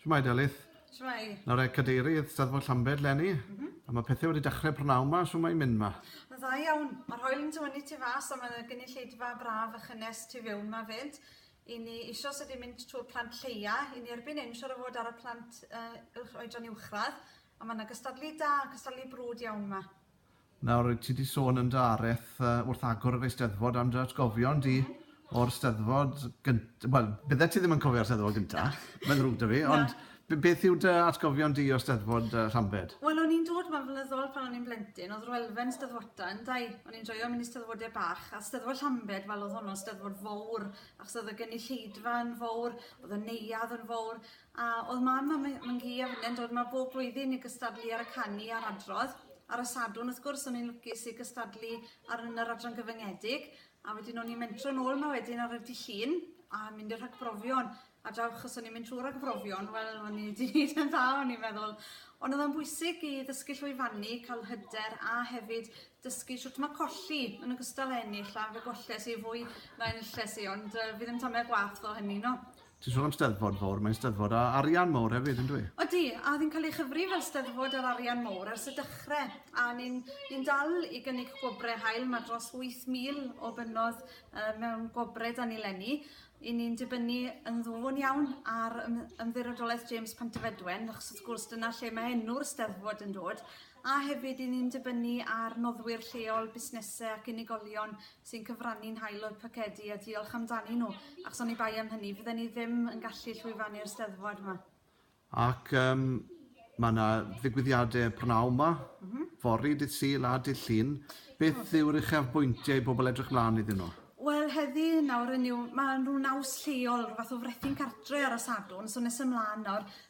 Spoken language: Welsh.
Shwmae Delyth? Shwmae. Nawr e cadeirydd Steddfod Llambed Lenny. Mm -hmm. A mae pethau wedi dechrau prynawn ma, shwmae mae'n mynd ma? Yn dda iawn. Mae'r hoel yn tywynnu tu fas a mae gynulleidfa braf a chynnes tu fewn ma fyd. I ni isio sydd wedi mynd trwy'r plant lleia, i ni erbyn hyn siwr o fod ar y plant uh, oedran uwchradd, a mae yna gystadlu da, cystadlu brwd iawn yma. Nawr, ti 'di sôn yn dy areth wrth agor yr Eisteddfod am dy atgofion di o'r Steddfod gynt-... Wel, byddet ti ddim yn cofio'r Steddfod gynta, mae'n ddrwg 'da fi, ond b- beth yw dy atgofion di o Steddfod Llambed? Wel, o'n i'n dod 'ma'n flynyddol pan o'n i'n blentyn, o'dd yr elfen Steddfodau yn dda, o'n i'n joio mynd i Steddfodau bach, a Steddfod Llambed, wel, o'dd honno'n Steddfod fowr, achos o'dd y gynulleidfa yn fowr, o'dd y neuadd yn fowr, A oedd mam a my- mam hi a finne'n dod 'ma bob blwyddyn i gystadlu ar y canu a'r adrodd ar y Sadwrn wrth gwrs o'n i'n lwcus i gystadlu ar yn yr adran gyfyngedig a wedyn o'n i'n mentro nôl 'ma wedyn ar y dydd Llun a mynd i'r rhagbrofion a draw achos o'n i'n mynd trwy ragbrofion wel o'n i 'di neud yn dda o'n i'n meddwl ond oedd o'n bwysig i ddysgu llwyfannu cael hyder a hefyd dysgu shwt mae colli yn ogystal â ennill a fe golles i fwy na enilles i ond yy fi ddim tamed gwaeth o hynny 'no. Ti'n sôn am Steddfod fowr, mae'n Steddfod â arian mowr hefyd, yn dwi? Odi, a oedd hi'n cael ei chyfri fel Steddfod ar arian mowr ers y dechrau, a ni'n ni dal i gynnig gwobrau hael, mae dros 8,000 o fynnodd uh, mewn gwobrau da ni lenni, i ni'n dibynnu yn ddwfwn iawn ar ymddirodolaeth James Pantyfedwen, achos wrth gwrs dyna lle mae enw'r Steddfod yn dod, A hefyd i ni'n dibynnu ar noddwyr lleol, busnesau ac unigolion sy'n cyfrannu'n hael o'u pocedi a diolch amdanyn nhw, achos oni bai am hynny, fydden ni ddim yn gallu llwyfannu'r Steddfod 'ma. Ac yym mae 'na ddigwyddiadau prynhawn 'ma, fory, dydd Sul a dydd Llun. Beth yw'r uchafbwyntiau i bobl edrych mlaen iddyn nhw? Wel, heddi nawr, hynny yw, mae 'na ryw naws lleol, ryw fath o frethyn cartre ar y Sadwrn, so nes ymlaen nawr,